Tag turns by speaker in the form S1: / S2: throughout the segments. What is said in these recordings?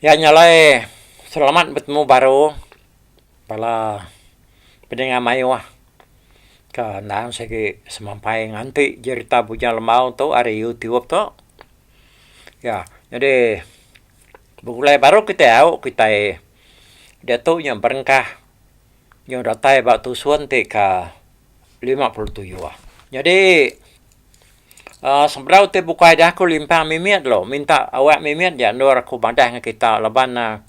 S1: Iya nya alai selamat betemu baru bala peninga mayuh ke endang sigi semampai nganti jerita Bujang Lembau tu ari YouTube tu. Iya, jadi begulai baru kitai au kitai diatu nya berengkah nyau datai ba tusun ti ke lima puluh tuyuh. Jadi Sebedau ti bukai dia aku limpang mimit lalu minta awak mimit ja endur aku madah ngan kita laban ne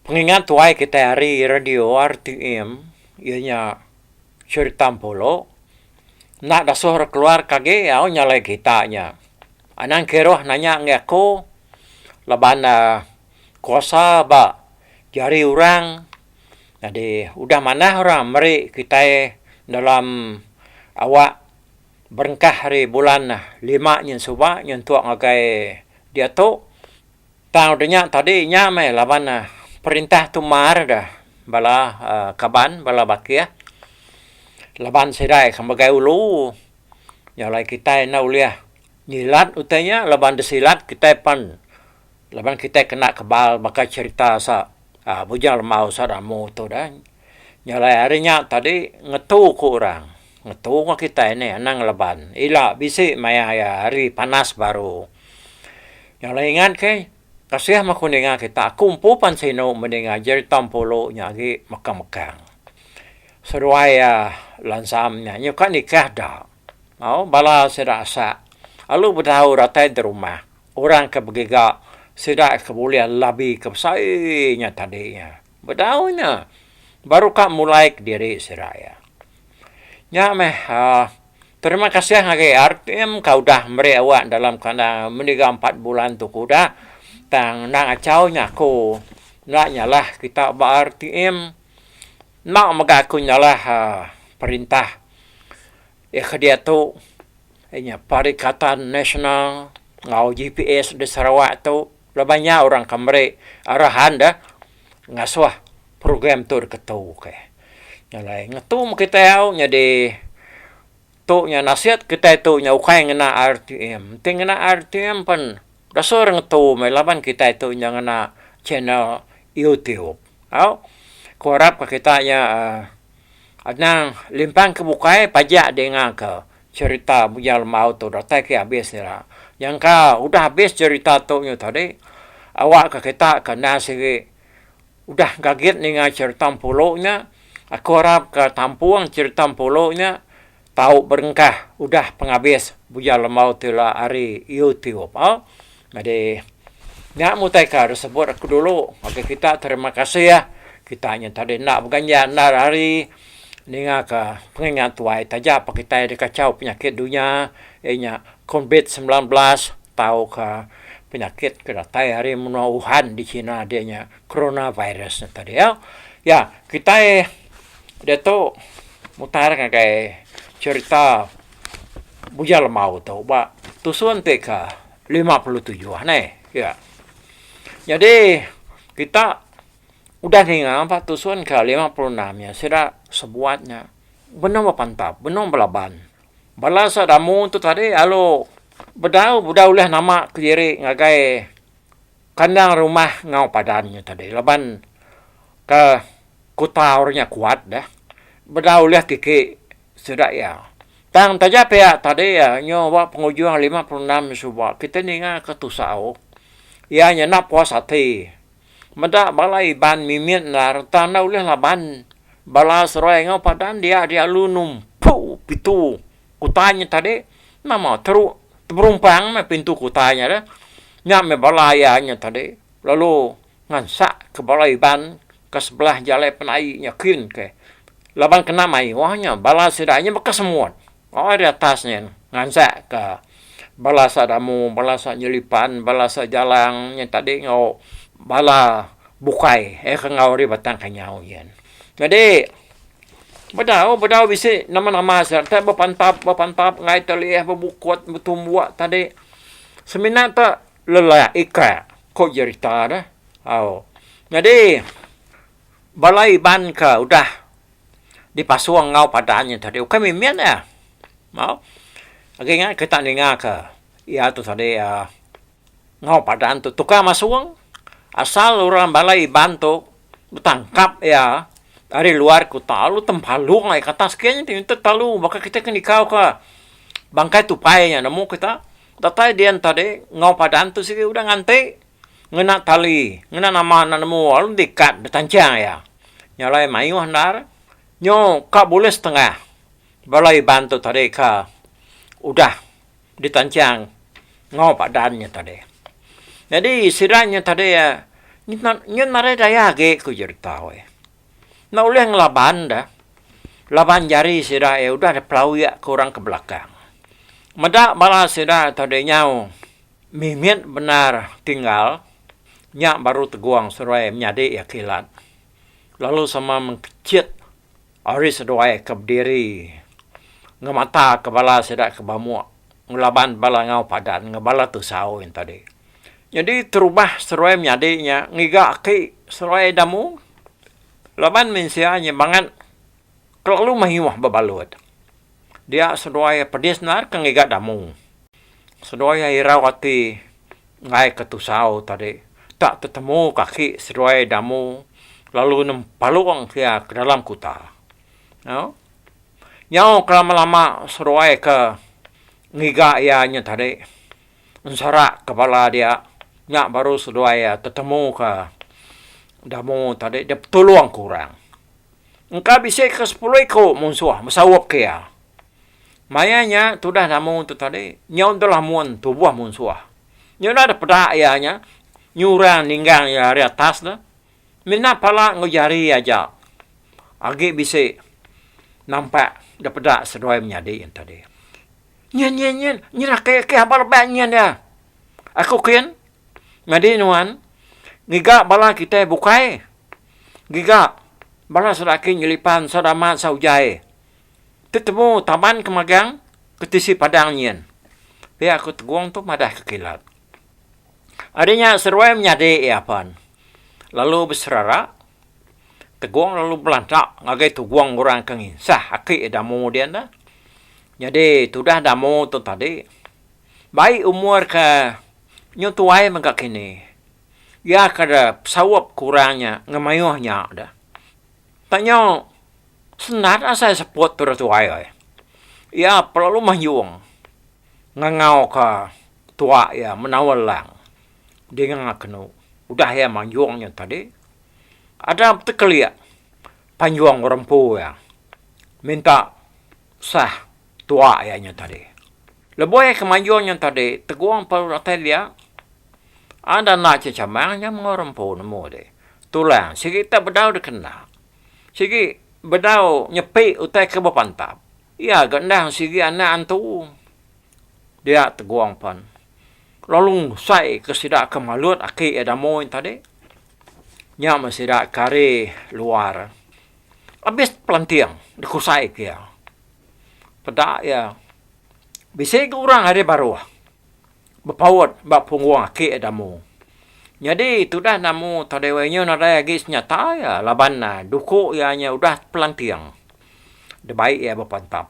S1: pengingat tuai kitai hari radio RTM iya nya cherita empulu enda dasuh ra keluar ke agi au nya alai kita nya. Anang Kiruh nanya ngagai aku laban ne kuasa ba jari orang nyadi udah manah orang meri kitai dalam awak Berengkah ari bulan lima nyin suba nyentuk ngagai diatu tang udah nya tadi nya meh laban perintah tu mar deh bala kaban bala bakih laban sida ke megai ulu nya alai kitai enda ulih nyilat utai nya laban disilat kitai pan laban kitai kena kebal baka cherita sa bujang lemau sa damu tu deh. Nyelai ari nya tadi ngetu ku orang. Ngetu enggau kitai nih anang leban. Ila bisi maya iya hari panas baru. Nyelai ingat ke kasih meh aku ninga kita. Aku empu pan sinu meh ninga jerita Empulu nya agi mekang-mekang. Seduai iya lansam nya nyuka nikah da. Au bala sida asak alu betau datai di rumah. Orang ke begiga sida ke bulih labika besai nya tadi nya. Bedau nya, baru ka mulai kediri sida iya. Nya meh, terima kasih agi RTM ka udah meri awak dalam kandang meniga empat bulan tu ke udah. Tang endang achau nya aku enda nyalah kita ba RTM. Enda mega aku nyalah perintah iya ke diatu inya Perikatan Nasional enggau GPS di Sarawak tu. Laban nya orang ke meri arahan deh ngasuh program tu deka tu okey. Nya alai ngetu meh kitai au nyadi tu nya nasit kitai tu nya ukai ngena rtm. Enti ngena rtm pen desur ngetu meh laban kitai tu nya ngena channel youtube. Au ku arap ka kita nya anang limpang ke bukai pajak dingaka. Cherita Bujang Lembau tu datai ke abis ira. Nyangka udah abis cherita tu nyu tadi, awak ke kita ke endang siri udah gagit ninga cherita Empulu nya. Aku arap ke tampung cherita Empulu nya tau berengkah udah pengabis Bujang Lembau tu ila ari YouTube. Nyadi, nya mutaika da sebut aku dulu ngagai kita terima kasih. Kita nya tadi enda beganja, enda ari ningaka pengingat tuai taja pak kitai dikachau penyakit dunya iya nya Covid semilan belas tauka penyakit ke datai ari menua Wuhan di China dia nya corona virus nya tadi iya. Iya, kitai diatu mutar ngagai cherita Bujang Lemau tu ba tusun ti ka. lima puluh tujuh ha neh ya. Nyadi kita udah ninga ba tusun ke lima puluh enam nya sida sebuat nya benung bepantap benung belaban. Bala sida amu tu tadi lalu bedau udah ulih nama kediri ngagai kandang rumah enggau padan nya tadi laban ke kuta orang nya kuat deh bedau ulih tiki sida iya. Tang taja pia tadi iya nyu ba pengujung lima puluh enam suba kitai ninga ke tusau iya nyenda puas ati meda bala Iban mimit endar entang enda ulih laban bala Seruai enggau Padan dia dialu numpu pitu kutai nya tadi nama teru teberumpang meh pintu kutai nya deh nya meh bala iya nya tadi lalu Ngansak ke bala Iban ke sebelah jalai penai nya kin ke laban kena mayuh nya bala sida nya baka semut oi ri atas nya ngansak ke bala sa damu bala sa nyelipan bala sa jalang nya tadi enggau bala bukai eh ke enggau ri batang kenyau nya. Jadi bedau bedau bisi nama nama sida enta bepantap bepantap ngai telih bebukut betumbuk tadi semina tu. lelak ika, ko jerita ne. Au nyadi bala Iban ke udah dipasung enggau padah nyen tadi ukai mimin iya. Au agi ingat kita ninga ke iya tu tadi um enggau padah tu tukar masung asal orang bala Iban tu betangkap iya ari luar kuta lalu tempalung iya ke atas ke nyen tu telu baka kita ke nikau ka bangkai tupai nyen nemu kita. Datai dian tadi enggau padan tu sigi udah nganti ngena tali ngena nama anak nemu lalu dikat ditanchang iya. Nya alai mayuh endar nyu ka bulih setengah bala Iban tu tadi ka udah ditanchang enggau padan nya tadi. Nyadi sida nya tadi iya nyu nyu nadai daya agi ku jerita weh. Enda ulih ngelaban da, laban jari sida iya udah dipelawik ke orang ke belakang. Meda bala sida tau deh nyau mimit bendar tinggal, nya baru tegong seduai menyadi iya kilat, lalu sama mengkechit ari seduai ke bediri ngemata ke bala sida ke bamuk. ngelaban bala enggau padan enggau bala tusau nya tadi. Nyadi terubah seruai menyadi nya ngiga aki seruai damu laban mensia nya bangat kelalu mayuh bebalut. Dia seduai pedis endar ke ngiga damu. Seduai iya irau ati ngaika tusau tadi tak tetemuka aki seduai damu lalu nempalong ke iya ke dalam kuta. Nyau ke lama-lama seruai ke ngiga iya nya tadi enserak ke bala dia nya baru seduai iya tetemu ke demo tadi dep tulung ke orang. Engka bisi ke sepuluh iku munsuh mesaup ke iya. Maya nya tudah demo tu tadi nyau deh lamun tubuh munsuh. Nyau udah deh peda iya nya nyurang ninggang iya ari atas deh. Mina pala enggau jari aja agi bisi nampak da peda seduai menyadi yen tadi. Nyin nyin nyin, nyin aki aki haba rebak nyin iya. Aku kin nyadi nuan ngiga bala kitai bukai ngiga bala sida aki nyelipan ensau dama ensau ujai tetemu taban ke magang ke tisi padang nyin. Pia aku tegong tu madahka kilat. Ari nya seruai menyadi iya pan lalu beserara Tegong lalu belanta ngagai Tugong orang ke nginsah aki Damu dian dah. Nyadi tudah Damu tu tadi bai umur ke nyu tuai mega kini iya ke besaup ke orang nya ngemayuh nya dah. Tang nyu sendat asai seput tudah tuai ai. Iya pelalu manjung. Ngangauka tuak iya menawa lang dinga kenu udah iya manjung nya tadi. Ada betekelik panjung ngerempu iya minta sah tuak iya nya tadi. Lebuh iya ke manjung nya tadi, tegong pa dulu datai dia, ada enda che chamang nya mengau rempu nemu dih. Tu lang sigi tak bedau dikena, sigi bedau nyepi utai ke bepantap. Iya ga endang sigi anak antu. Dia tegong pan. Lalu ngusai ke sida ke malut aki iya Damoi tadi. Nya meh sida ke ari luar. Abis pelanting dikusai ke iya. Peda iya, bisi ga orang ari baruh. Bepaut ba punggung aki Damu. Nyadi tudah Damu tau dewai nyu nadai agi senyata iya laban duku iya nyu udah tepelanting. Debai iya bepantap.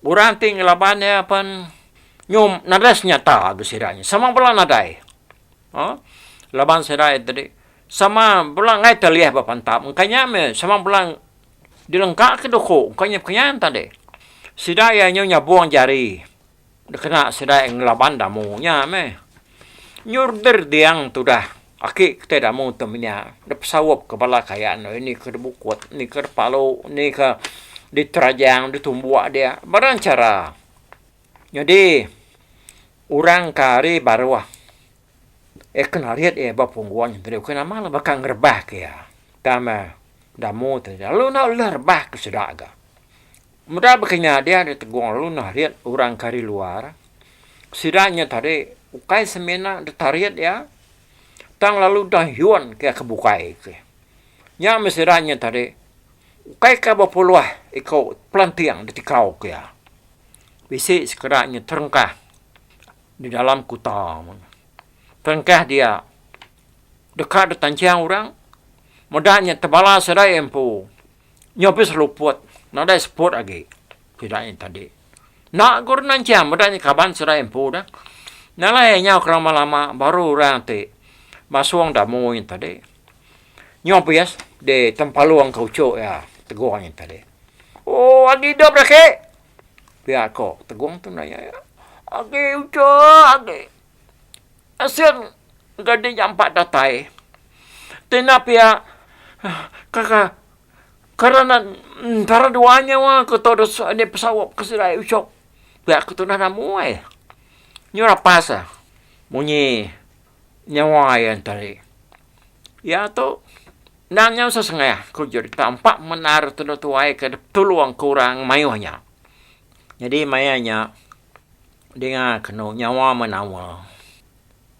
S1: Orang ti ngelaban iya pen nyu nadai senyata agi sida nyu. Sama bela nadai. Aaa laban sida iya tadi sama bela enggai telih bepantap. Engka nya meh sama bela dilengkaka duku. Engka nya pekenian tadi. Sida iya nyu nyabung jari. Dikena sedae ngelaban damu nya meh. Nyurder diang tudah aki kitai damu tu menya dipesaup ke bala kaya nuh ini ke dibukut, ini ke dipalu, ini ke diterajang, ditumbuk dia barang chara. Nyadi orang ke ari baruh iya kena rit iya ba punggung nya tadi ukai nama baka ngerebak iya. Tama damu ti lalu enda ulih rebak ke sida ga. Meda baka nya dia ari Tegong lalu narit orang ke ari luar, sida nya tadi ukai semina ditarit iya tang lalu udah yun ke iya ke bukai ke. Nya meh sida nya tadi ukai ka bepuluh iko pelanting ditikau ke iya. Bisi sekeda nya terengkah di dalam kuta meh. Terengkah dia deka ditanchang orang meda nya tebala sida iya empu. Nya pun seluput, nadai seput agi sida nya tadi. Enda ku dah nanchang meda nya kaban sida empu dah. Nya alai nyau ke lama-lama baru orang ti masung da mui nya tadi. Nya pun iya ditempalung ka uchu iya Tegong nya tadi. Ooh agi idup dah ke, pia ko Tegong tu nanya iya. Agi uchu agi. Asil gadi nya empa datai ti ina pia karanan entara dua nya wa ku tu enda pesaup ke sida icuk pia ke tunah namu ai nyu lapas a munyi nyawa iya tadi iya tu endang nya sesengah ku jerita empa menar tudu tuai ke tulung ke orang mayuh nya jadi maya nya. Dinga kenu nyawa menawa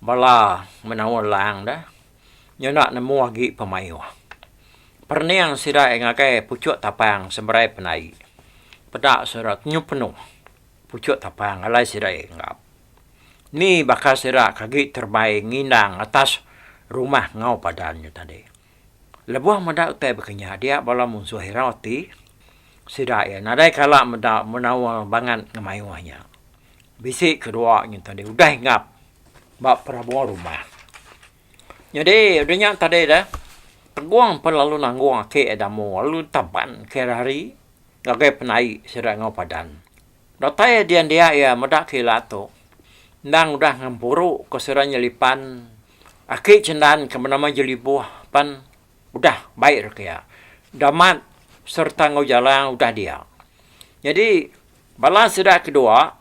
S1: bala menawa lang deh nyenda nemu agi pemayuh. Perening sida ngagai puchuk tapang seberai penai peda sida tenyup penuh puchuk tapang alai sida enggap. Ni baka sida ke agi terebai ngindang atas rumah enggau padan nya tadi. Lebuh meda utai bekenyah dia bala munsuh ira ti sida iya nadai kala meda menaul bangat ngemayuh nya. Bisi kedua nya tadi udah enggap ba perabur rumah. Nyadi udah nya tadi deh peguang pe lalu nanggung aki iya damu lalu taban ke ira hari ngagai penai sida enggau padan. Datai dian dia iya meda kilat tu endang udah ngempuru ke sida nyelipan. Aki Chendan ke benama Jeliboh pan udah baik raka iya. Damat sereta enggau Jalang udah dia. Nyadi bala sida ke dua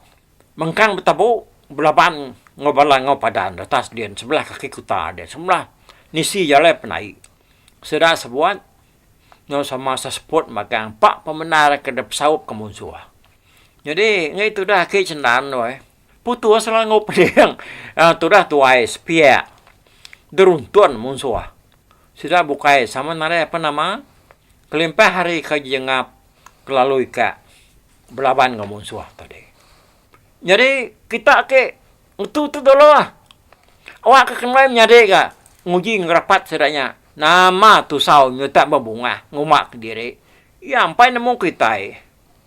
S1: mengkang betabu belaban enggau bala enggau padan retas din sebelah kaki kuta din sebelah nisi jalai penai. Sida sebuat enggau sama seseput magang empa pemendar ke dipesaup ke munsuh. Nyadi ngetu dah Aki Chendan weh. Putus selangau peding tudah tuai sepiak geruntun munsuh sida bukai sama nadai ape nama kelimpah hari ke jengap kelalu ika belaban enggau munsuh tadi. Nyadi kita ti ngetu tu dulu lah awak ke kendai menyadi ga nguji enggau rapat sida nya nama tusau nyutak bebungah nguma kediri iya empai nemu kitai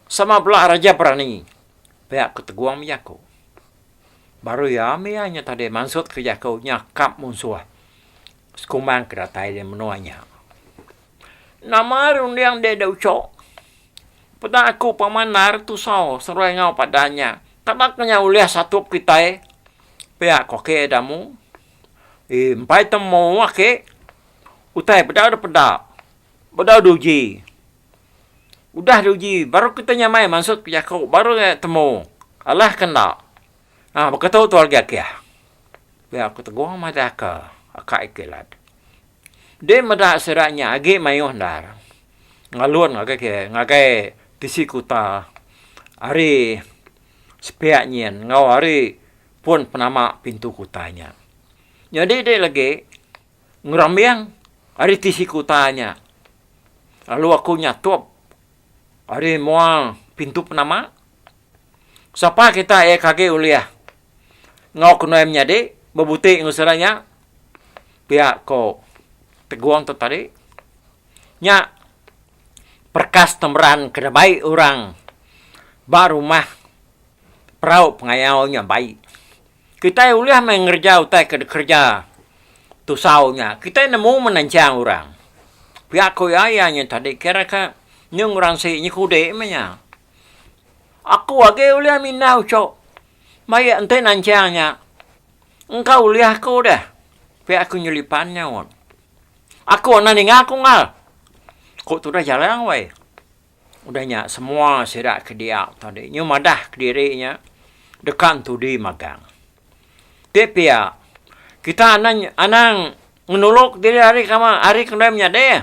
S1: sama bela raja berani. Pia ku Tegong bejaku. Baru iya mih iya nya tadi mansut ke jaku nya kap munsuh sekumbang ke datai di menua nya. Nama runding deh da uco. Peda aku pemandar tusau seruai enggau padan nya. Tapa ke nya ulih satup kitai? Pia ku ake da mu. Ih empai temu ake. Utai peda da peda. Peda da uji. Udah diuji baru kita nyamai mansut ke jaku baru nya temu alah ke enda ha baka tu tual agi akih pia aku tegong madah ke aka iti lad din meda sida nya agi mayuh endar ngalun ngagai ke ngagai tisi kuta ari sepiak nyin enggau ari pun penama pintu kuta nya nyadi di lagi ngerambing ari ti siku utai nya lalu aku nyatup ari mua pintu penama. Sapa kita iya ke agi ulih enggau kenuan menyadi bebuti enggau sida nya pia ko Tegong tu tadi. Nya perekas temeran ke da bai orang ba rumah perau pengayau nya bai. Kitai ulih meh ngereja utai ke dikereja Tusau nya. Kitai nemu menenchang orang. Pia ku iya, iya nya tadi kira ke nyung orang sik nyekudi meh nya. Aku agi ulih mindah uchu mai enti nanchang nya. Engka ulih aku deh, pia ku Nyelipan nyaut. Aku enda ninga aku enggau. Ku tudah Jalang weh. Udah nya semua sida ke dia tau dih nyu madah kediri nya deka entudi magang. Ti pia, kita enda anang ngenuluk diri ari ke ama ari ke ndai menyadi.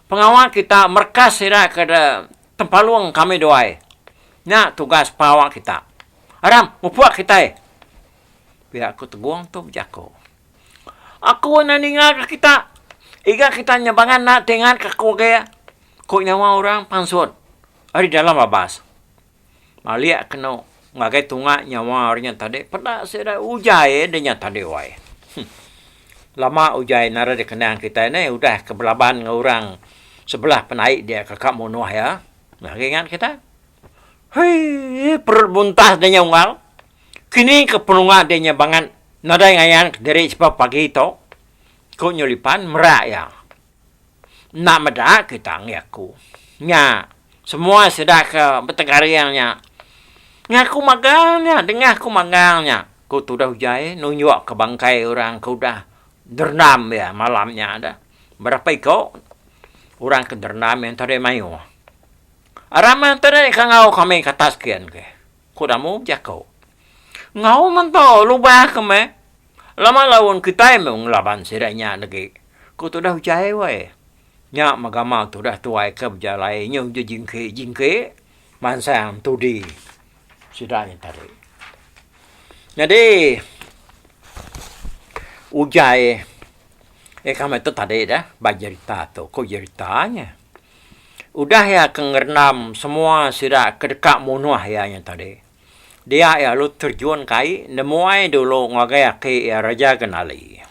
S1: Pengawa kita merekas sida ke tempalung kami duai. Nya tugas pengawa kita. Aram, mupuk kitai! pia ku Tegong tu bejaku. Aku enda ningaka kita. Iga kita nya bangan enda tengaka aku agi, ku nyawa orang pansut ari dalam labas. Malik kenu ngagai tunga nyawa ari nya tadi peda sida ujai ari nya tadi wai. Huh. Lama ujai nara dikenang kitai nih udah ke belaban enggau orang sebelah penai dia ke ka munuh iya. Agi ingat kita. Hei perut buntas dah nya unggal. Kini ke penunga ti nya bangat nadai ngayan kediri sebab pagi tu, ku Nyu Lipan merak iya. Enda meda kita enggai aku. Nya, semua sida ke betegaring nya ngaku magang nya dengah ku magang nya, ku Tudah Ujai nunjukka bangkai orang ke udah derendam iya malam nya tu. Berapa iku orang ke derendam iya enti deh mayuh. Aram enti deh ka enggau kami ke atas ke. Ku Damu bejako. Enggau mento lubah ke meh. Lama laun kitai meh ngelaban sida nya degi. Ku tudah Ujai wai. Nya megama tudah tuai ke bejalai nyau je jingki jingki mansang tudi sida nya tadi. Nyadi Ujai eka meh tu tadi dah ba jerita tu ku jerita nya. Udah iya ke ngerendam semua sida ke deka munuh iya nya tadi, dia iya lalu terjun ke ai nemuai dulu ngagai aki iya Raja Genali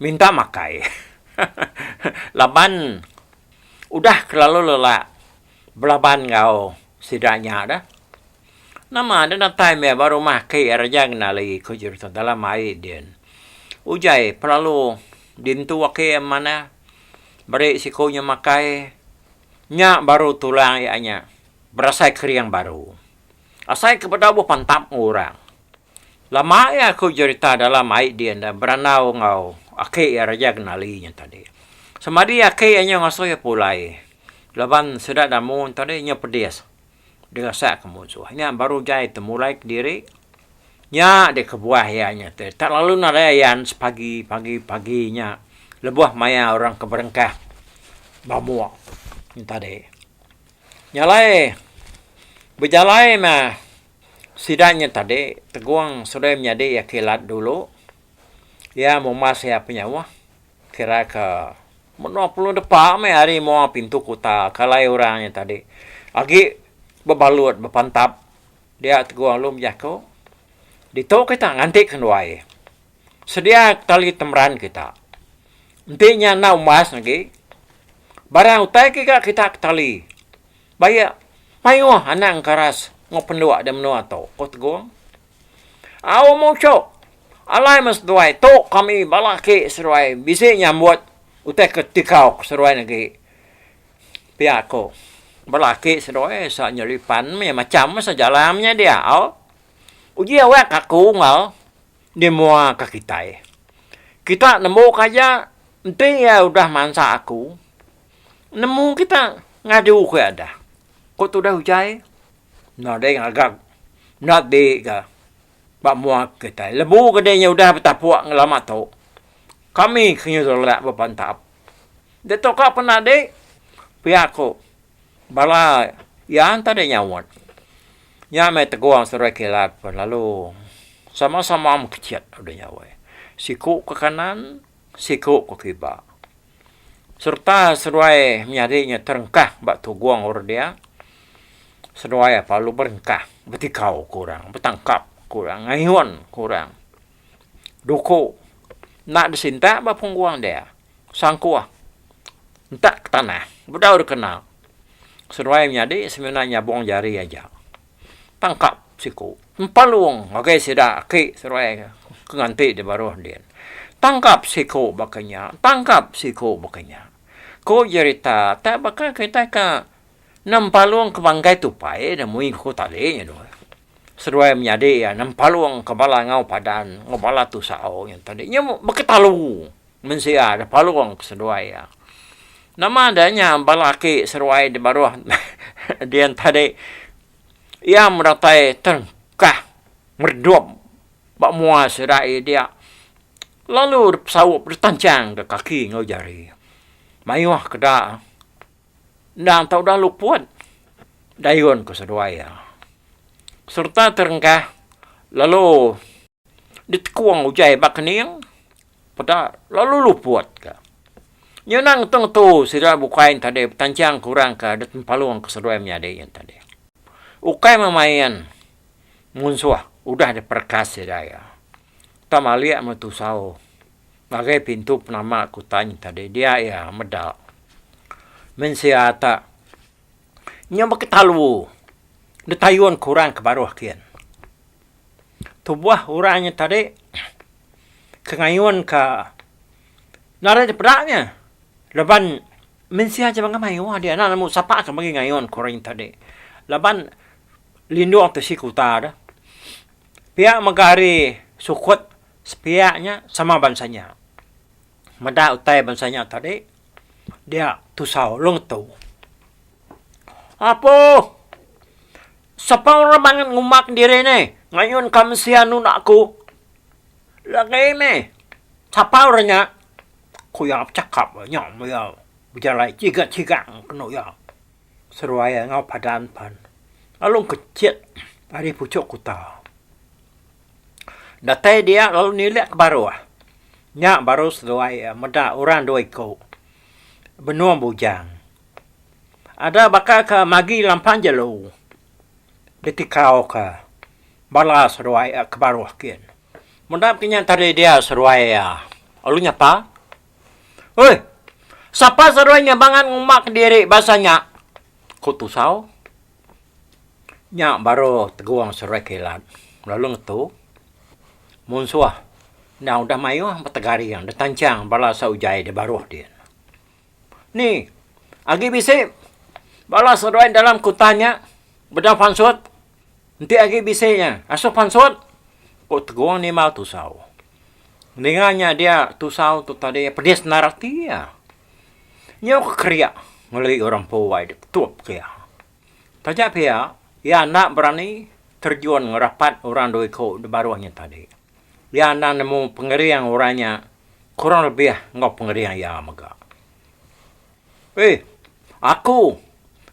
S1: minta makai. Laban udah kelalu lelak belaban enggau sida nya dah. Nama deh datai meh ba rumah aki iya Raja Genali ku Jerutong dalam ai din. Uji ai pelalu dintu aki iya manah Meri siku nya makai. Nya baru tulang iya nya berasai kering baru. Asai ke bedau bepantap enggau orang. Lama iya aku jerita dalam ai dia enda berandau enggau aki iya Raja Genali nya tadi. Sama di aki iya nya ngasuh iya pulai laban sida damun tadi nya pedis. Dengasa ke munsuh nya baru jai temulai kediri nya deh kebuah iya nya te tak lalu nadai ayan sepagi pagi pagi nya lebuh maya orang ke berengkah bamuk nya tadi nya alai bejalai meh sida nya tadi tegong sudah menyadi iya kilat dulu iya mumas iya penyauh kira ke Menoh pelu depa meh ari moa pintu kuta ke alai orang nya tadi agi bebalut bepantap dia Teguh Alum jaku ditu kita nganti ke duai sedia tali temeran kita enti nya enda umbas agi barang utai ke ga kita ke tali baie maioh anak engkeras enggau penduk di menoa tu, ku Teguh. Au muchok, alai meh seduai tu kami ba laki seduai bisi nyambut utai ke tikau ke seduai ne agi. Pia ku ba laki seduai sa nyeli pan meh macham meh saja alam nya dia au. Uji awak aku enggau di mua ke kitai. Kita nembu ke aja enti iya udah mansa aku nemu kita ngadu ke adah. Ku tudah utai. Enda deh ngaga enda di ga ba mua kitai lebu ke deh inya udah betapok ngelama tu kami ke inya ulak ba pantap dak tu ka pun ade pia ku bala iya enta deh nyauot nya meh teguh saudara kilat lalu sama-sama mekechet deh nyauot siku ke kanan siku ku kiba sereta seduai menyadi nya terengkah ba tugong orang dia, seduai apa lalu berengkah betikau ke orang, betangkap ke orang, ngayun ke orang. Duku enda disintak ba punggung dia, sangkuh entak ke tanah bedau dikena. Seduai menyadi semina nyabung jari aja. tangkap siku empalung ngagai sida aki seruai ke nganti di baruh din. Tangkap siku baka nya, tangkap siku baka nya. Ku jerita tak baka kitai ka nempalung ke banggai tupai ida mui ku tali nya dua. Seruai menyadi iya nempalung ke bala ngau padan, ngau bala tusau nya tadi nya beketalu. Mensia da palung ke seduai iya. Nama da nya bala aki seruai di baruh Dian tadi? Iya medatai terengkah meredup ba mua sida iya dia, lalu dipesaup ditanchangka kaki enggau jari. Mayuh ke da, endang tau udah luput dayun ke seduai iya sereta terengkah lalu. Ditekung ujai ba kening peda lalu luput ka. Nya enda ngetu ngetu sida bukai nya tadi betanchang ke orang ke dep empalung ke seduai menyadi nya tadi. Ukai memain munsuh udah diperekas sida iya. Tang alik meh tusau ngagai pintu penama ke utai nya tadi dia iya meda men sia ta nya baka talu ditayun ke orang ke baruh kin. Tubuh orang nya tadi ke ngayun ka narit di peda nya laban mensia jeman ke mayuh dia enda nemu sapa ke meri ngayun ke orang tadi laban lindung tu isi kuta dah pia mega hari sukut sepiak nya sama bansa nya meda utai bansa nya tadi. dia tusau long tu. Apo sapa orang bangat ngumak diri ne ngayun ka mensia nunda aku. Lagi meh sapa orang nya ku iya bechakap nya meh iya bejalai chiga chiga kenu iya seruai enggau padan pan lalu kechet ari puchok kuta. Datai dia lalu nilek ke baruh. Nya baru seduai iya meda orang dua iku benung bujang. Ada baka ke magi lampang jelu ditikauka bala seduai iya ke baruh kin. Meda kinya tadi dia seduai iya lalu nyapa, Oi, sapa seduai nya bangat ngumba kediri basa nya? ku Tusau. Nya baru tegong seruai kilat lalu ngetu munsuh enda udah mayuh betegaring deh tanchang bala sai ujai deh baruh dih. Ni agi bisi bala seruai dalam kutan nya bedau pansut enti agi bisi nya asuh pansut ku tegong ni mau tusau. Ninga nya dia tusau tu tadi pedis nera ati iya. Nyau ke keria ngelui orang Powai dek tup ke iya. Taja pia, iya enda berani terjun ngerapat orang dua iku de baruh nya tadi. Iya enda nemu pengering orang nya kurang lebih enggau pengering iya mega. Uih, aku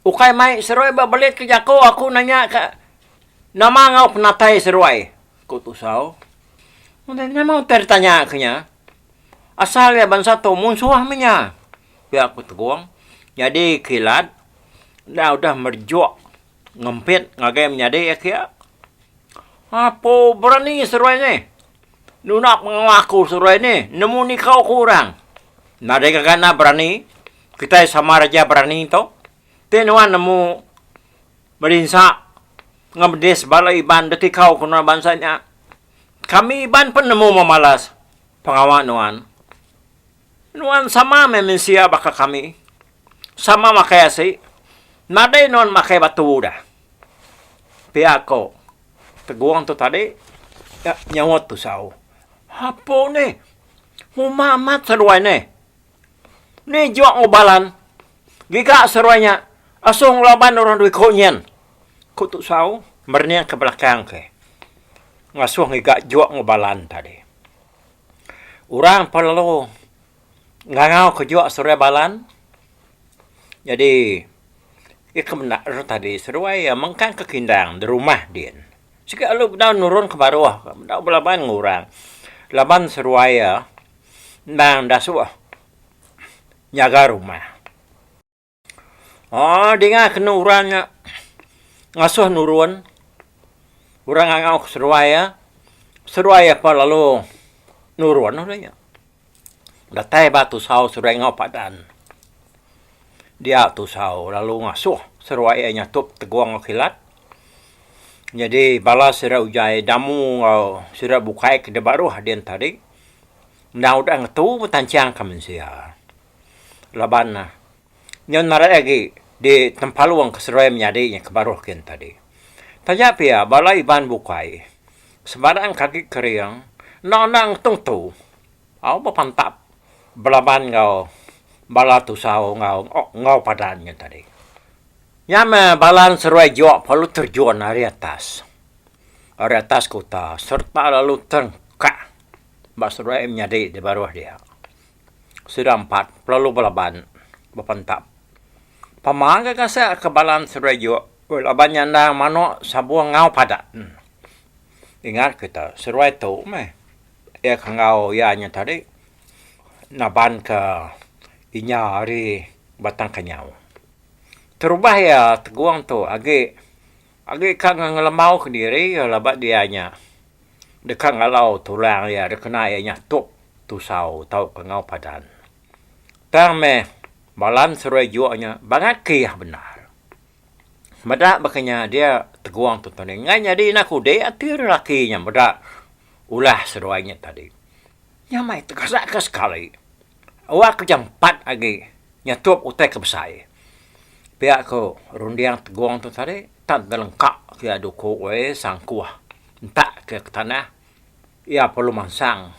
S1: ukai mai seruai ba belit ke jaku aku nanya ka nama enggau penatai seruai, ku Tusau. Nama utai ditanya ke nya? Asal iya bansa tu munsuh meh inya, pia ku Tegong. Nyadi kilat enda udah merejuk ngempit ngagai menyadi iya kia. Apo berani seruai nih nunak pengawa aku seruai nih nemu nikau ku orang. Nadai ngagai enda berani, kitai sama raja berani tu. Ti nuan nemu berinsa enggau bedis bala Iban deti kau ke nuan bansa nya. Kami Iban pun nemu memalas pengawa nuan. Nuan sama meh mensia baka kami. Sama makai asi. Nadai nuan makai batu dah. Pia ko Tegong tu tadi nyaut Tusau. Apo nih. Uma amat seduai nih. Ni jok enggau balan. Giga seruai nya. Asoh enggau laban orang dua iko nyen, ku Tu Sau merening ke belakang ke ngasoh ngiga jok enggau balan tadi. Orang pun lalu ngangau ke jok seruai balan. Jadi iya ke menda re tadi seruai iya mengkang ke kindang di rumah din. Sigi lalu bedau nurun ke baroh, bedau belaban enggau orang laban seruai iya. Endang enda suah nyaga rumah. Aa dinga kenu orang nya ngasuh nurun orang ngangau ke seruai iya, seruai iya pun lalu nurun orang nya. Datai ba tusau seruai ngau padan. Dia tusau lalu ngasuh seruai iya nyatup tegong enggau kilat. Nyadi bala sida ujai damu enggau sida bukai ke dibaruh dian tadi. enda udah ngetu betancangka mensia laban nyau marai agi di tempalung ke seduai menyadi nya ke baruh gin tadi. Taja pia bala Iban bukai sebarang ke agi kering enda udah ngetu ngetu au bepantap belaban enggau bala tusau enggau enggau padan nya tadi. Nya meh bala seduai jok perlu terjun ari atas. ari atas kuta sereta lalu terengkak ba seduai menyadi di baruh dia. Sida empat lalu belaban bepentap. Pemang ke kasek ke balan seduai juk weh laban nyandang manok sabung enggau padat. Ingat kita seduai tu meh iya ke enggau iya nya tadi naban ke inya ari Batang Kenyau. Terubah iya tegong tu agi. Agi ka ngelemau ke diri iya la ba dia nya deka ngalau tu orang iya dikena iya nya tok tusau tauka enggau padan. Tang meh Balan Seruai Jok nya bangat ke iya bendar. Meda baka nya dia tegong tu tuni enggai nyadi enda kudi ati ari laki nya meda ulah seduai nya tadi. Nya mai tegasaka sekali. Awak ke jampat agi nyatup utai ke besai. Pia ko runding tegong tu tadi tan tau lengkap pia duko woi sangkuh entak ke tanah ia perlu mansang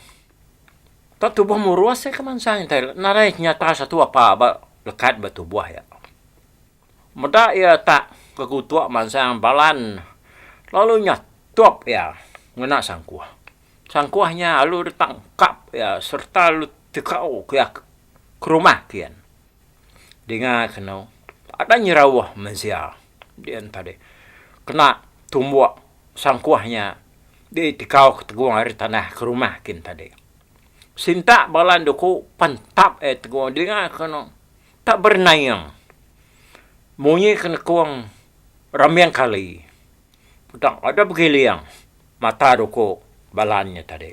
S1: tau tubuh murus ia ke mansang narai nyata satu apa ba lekat ba tubuh ia. Meda iya tak kekutuk mansang Balan lalu nya tup iya ngena sangkuh. Sangkuh nya alu deka engkap iya sereta alu tegau ke iya ke rumah kian. Dinga kenu ada nyerauh mensia dian tadi kena tumbuk sangkuh nya ditegau ke tegung ari tanah ke rumah kin tadi. Sintak Balan duku pan tap iya tegung dinga kenu. Tak bernaing. Munyi ke nekung rambing kali. Udah udah begiling mata duku Balan nya tadi.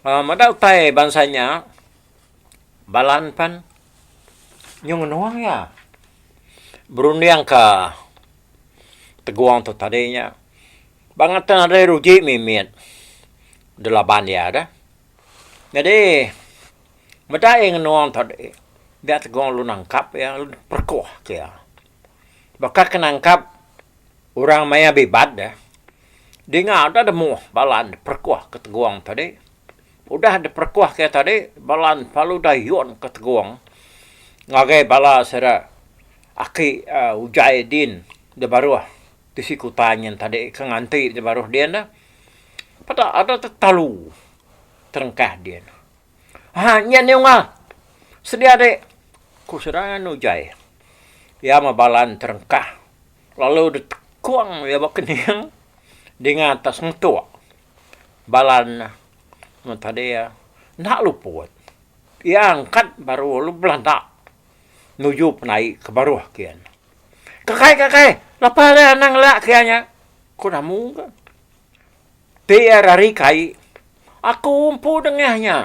S1: Um meda utai bansa nya Balan pen nyu ngenung iya berunding ke tegong tu tadi nya. Ba ngata nadai ruji mimit delaban iya deh. Nyadi. Meda iya ngenung tadi, dia tegong lu nangkap iya lalu diperekoh ke iya. Baka ke nangkap orang maya bibat deh, dinga udah demoh bala diperekoh ke tegong tadi. Udah diperekoh ke iya tadi, bala ne pelu dayun ke tegong ngagai bala sida aki ujai din da baruh tisi kuta nyin tadi ke nganti da baruh din deh. Peda ada tetalu terengkah din. Ha nya Neunga, sedia dek, ku serangan Ujai. Iya mebalan terengkah lalu ditekung iya ba kening dinga atas ngetuk. Balan ne tadi enda luput. Iya angkat baru lalu belanda nuju penai ke baruh kian. Kakai kakai, lepa alai anang ela kian nya, ku Namu. Pia ari kai, aku empu nengah nya.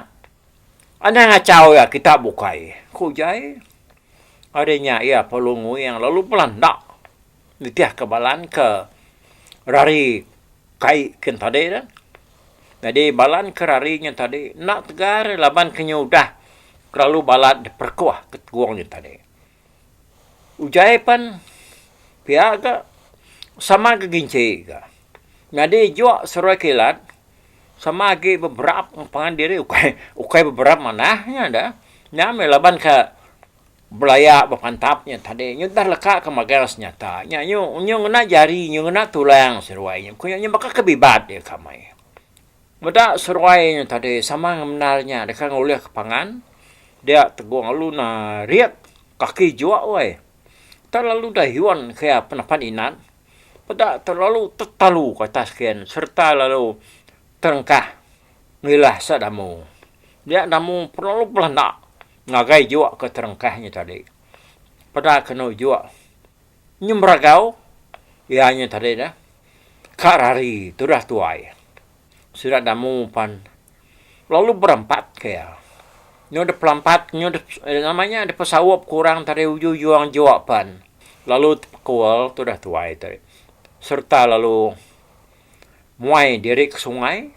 S1: Anang achau iya kita bukai, ku Jai. Ari nya iya perlu nguing lalu bela enda nitihka Balan ke rari kai kin tadi tu. Nyadi Balan ke rari nya tadi enda tegar laban ke nya udah kelalu balat diperekuh ke tegong nya tadi. Ujai pan pia ga sama ga ginci ga. Nyadi juk seruai kilat sama agi beberap pangan diri ukai ukai beberap manah nya da. Nya meh laban ka belaya bepantap nya tadi nyu udah leka ke magang senyata nya nyu nyu ngena jari nyu ngena tulang seruai nya ku nya baka ke bibat nya kamai. Meda seruai nya tadi, sama ngemendar nya deka ngulihka pangan dia tegong lalu narit kaki jua weh. Tang lalu udah yun kaya penapan inan, peda terlalu tetalu ke atas kin sereta lalu terengkah ngilah sak damu. Nya damu terlalu belanda ngagai jua ke terengkah nya tadi. Peda kenu jua. Nyemeragau iya nya tadi dah. Ka rari tudah tuai. Sida damu pan lalu berampat ke iya. Nyu dep lampat nyu dep nama nya dep saup ke orang tadi uju juang jua pan lalu tepekul tudah tuai tadi sereta lalu muai diri ke sungai.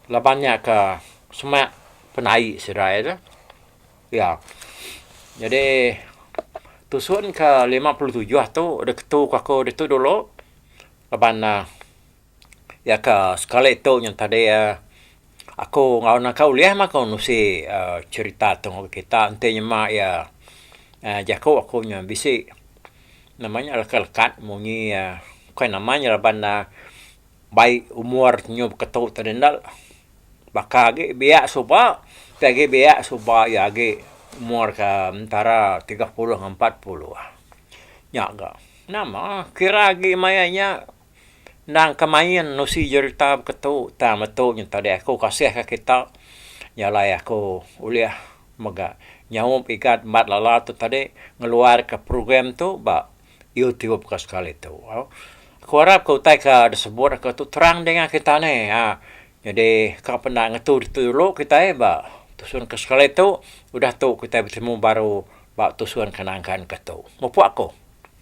S1: Laban nya ke semak penai Israel. Ya. Jadi tusun ke lima puluh tujuh tu deh ketu ke aku ditu dulu laban uhh iya ke sekali tu nyun tadi uhh aku enggau anak aku ulih mah aku nusi uhh cherita tu ngagai kita enti nyema iya uhh jaku aku nya bisi nama nya leka-lekat munyi uhh bukai nama nya laban uhh Bai umur nyu beketu tadi enda baka agi biak suba ti agi biak suba iya agi umur ke entara tiga puluh enggau empat puluh. Nya ga nama kira agi maya nya endang ke main usi jerita beketu tang metu nyu tadi aku kasih ka kita jalai aku ulih mega nyaup igat bat lala tu tadi ngeluar ka program tu ba Iyo ti baka sekali tu. Aku arap ka utai ka disebut aku tu terang dinga kita ne. Jadi ka peda ngetu ditu dulu kitai ba tusun ke sekali tu udah tu kitai betemu baru ba tusun ke nangkan ke tu. Mupok aku.